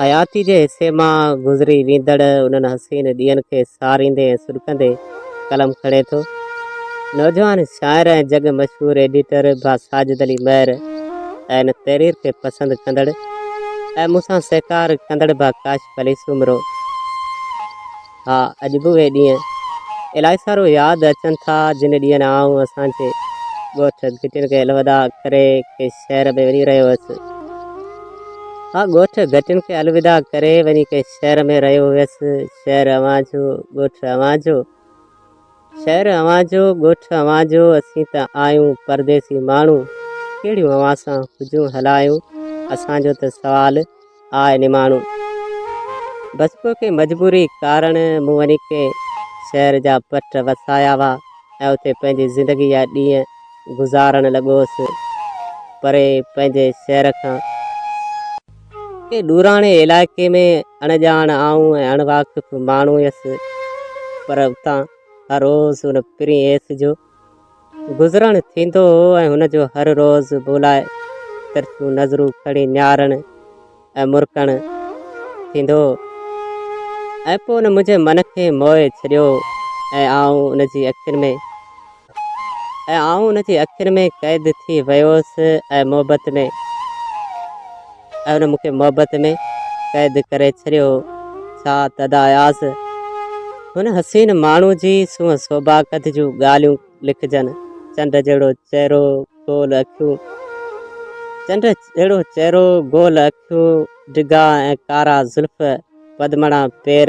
حياتيء جي حصي مان گذري ويندڙ انهن حسين ڏينهن کي ساريندي ۽ سڏڪندي قلم کڻي ٿو نوجوان شاعر ۽ جڳ مشهور ايڊيٽر ڀا ساجد علي مهر ۽ ان تحرير کي پسند ڪندڙ ۽ مون سان سهڪار ڪندڙ ڀا ڪاشف علي سومرو. ها اڄ به اهي ڏينهن الائي سارو ياد اچن ٿا جن ڏينهن آئون اسان جي ڳوٺ گهٽين کي الوداع ڪري ڪنهن شهر ۾ وڃي رهيو هيس. ها ڳوٺ گهٽين کي الوداع ڪري وڃي ڪنهن شهر ۾ رهيو هيس. شهر اوهان جو ڳوٺ اوهان جو. شهر اوهان جو، ڳوٺ اوهان جو، اسين ته آهيون پرديسي ماڻهو، ڪهڙيون اوهان سان حجون هلايون، اسان جو ته سوال آء نماڻو. بس پوء ڪنهن مجبوري ڪارڻ مون وڃي ڪنهن شهر جا پٽ وسايا هئا ۽ اتي پنهنجي زندگي جا ڏينهن گذارڻ لڳو هوس، پري پنهنجي شهر کان. ڪنهن ڏوراڻي علائقي ۾ اڻڄاڻ آئون ۽ اڻ واقف ماڻهو هيس، پر اتان هر روز ان پرين ايس جو گذرڻ ٿيندو هو ۽ هن جو هر روز مون لاء ترسيون نظرون کڻي نهارڻ ۽ مرڪڻ ٿيندو هو ۽ پوء ان منهنجي من کي موهي ڇڏيو ۽ آئون ان جي اکين ۾ ۽ آئون ان جي اکين ۾ قيد ٿي ويوس ۽ محبت ۾ ۽ ان مون کي محبت ۾ قيد ڪري ڇڏيو ڇا تدا اياز هن حسين ماڻهو جي سونهن سوڀا قد جون ڳالهيون لکجن چنڊ جهڙو چهرو گول اکيون چنڊ جهڙو چهرو گول اکيون سو ڊگها ۽ ڪارا زلف پدمڙا پير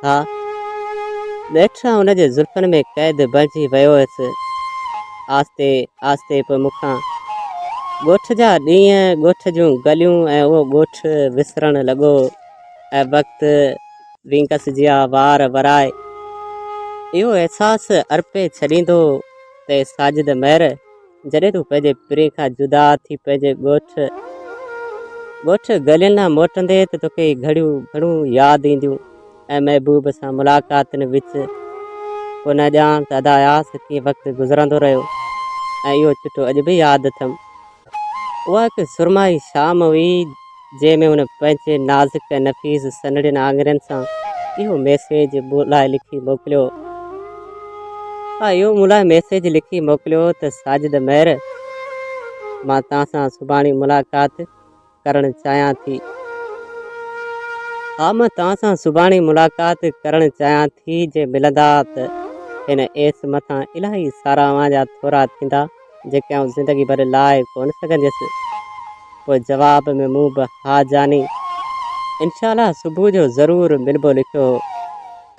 ها. ٻيٺران ان جي زلفن ۾ قيد بڻجي ويو هيس. آهستي آهستي پوء مون کان ڳوٺ جا ڏينهن، ڳوٺ جون گليون ۽ اهو ڳوٺ وسرڻ لڳو ۽ وقت وينگس جيان وار ورائي اهو احساس ارپي ڇڏيندو ته ساجد مير، جڏهن تون پنهنجي پرين کان جدا ٿي پنهنجي ڳوٺ ڳوٺ گلين ڏانهن موٽندي ته توکي گهڙيون گهڻون ياد اينديون ۽ محبوب سان ملاقاتن وچ ڪو نه ڄاڻ ته ادا اياز ڪيئن وقت گذرندو رهيو ۽ اهو چٽو اڄ به ياد اٿم اها هڪ سرمائي شام هئي جنهن ۾ هن پنهنجي نازڪ ۽ نفيس سنهڙين آڱرين سان اهو ميسيج مون لاء لکي موڪليو. آء اهو مون لاء ميسيج لکي موڪليو ته ساجد مير مان توهان سان سڀاڻي ملاقات ڪرڻ چاهيان ٿي. ها مان توهان سان سڀاڻي ملاقات ڪرڻ چاهيان ٿي جي ملندا ته هن ايس مٿان الاهي ساراهه اوهان جا ٿورا ٿيندا. جيڪي آئون زندگي ڀر لائي ڪونه سگهنديس. پوء جواب ۾ مون به ها جاني انشاء الله صبح جو ضرور ملبو لکيو هو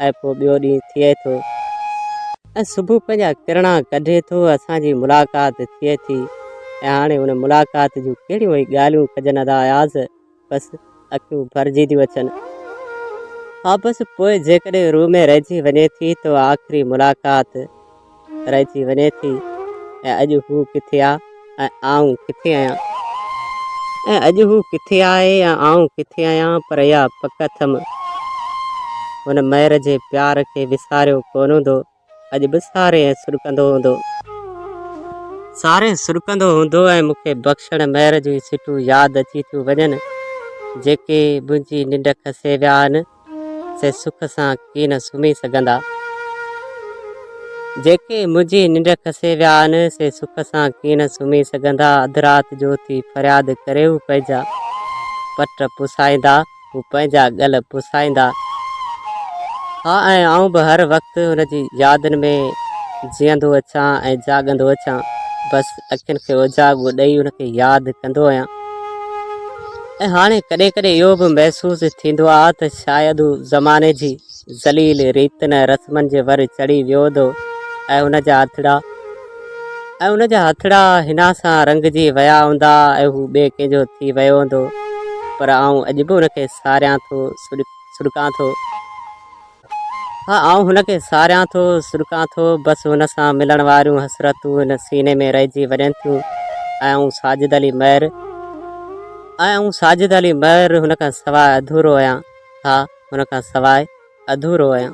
۽ پوء ٻيو ڏينهن ٿئي ٿو ۽ صبح پنهنجا ڪرڻا ڪڍي ٿو اسان جي ملاقات ٿئي ٿي ۽ هاڻي ان ملاقات جون ڪهڙيون ئي ڳالهيون ڪجن ادا اياز بس اکيون ڀرجي ٿيون اچن. ها بس پوء جيڪڏهن روح ۾ رهجي وڃي ٿي ته اها آخري ملاقات رهجي وڃي ٿي ۽ اڄ هو ڪٿي آ ۽ آئون ڪٿي آهيان ۽ اڄ هو ڪٿي آهي يا آئون ڪٿي آهيان پر اها پڪ اٿم هن مير جي پيار کي وساريو ڪون هوندو اڄ به سارين سڏڪندو هوندو. سارين سڏڪندو هوندو ۽ مون کي بخشڻ مهر جون ئي سٽون ياد اچي ٿيون وڃن، جيڪي منهنجي ننڊ کسي ويا آهن، سي سک سان ڪين سمهي سگهندا. جيڪي منهنجي ننڊ کسي ويا آهن، سي سک سان ڪين سمهي سگهندا. اڌ رات جو اٿي فرياد ڪري هو پنهنجا پٽ پسائيندا. هو پنهنجا ڳل پسائيندا ها ۽ آئون به هر وقت هن جي يادن ۾ جيئندو اچان ۽ جاڳندو اچان. بس اکين کي اوجاڳو ڏئي هن کي ياد ڪندو هيان ۽ هاڻي ڪڏهن ڪڏهن اهو به محسوس ٿيندو آ ته شايد هو زماني جي ذليل ريتن ۽ رسمن جي ور چڙهي ويو ٿو ۽ ان جا هٿڙا ۽ ان جا هٿڙا هن سان رنگجي ويا هوندا ۽ هو ٻئي ڪنهن جو ٿي ويو هوندو پر آئون اڄ به ان کي ساريان ٿو سڏڪان ٿو ها آئون هن کي ساريان ٿو سڏڪان ٿو بس هن سان ملڻ واريون حسرتون هن سيني ۾ رهجي وڃن ٿيون ۽ آئون ساجد علي مهر ۽ آئون ساجد علي مهر هن کان سواء اڌورو آهيان ها ان کان سواء اڌورو آهيان.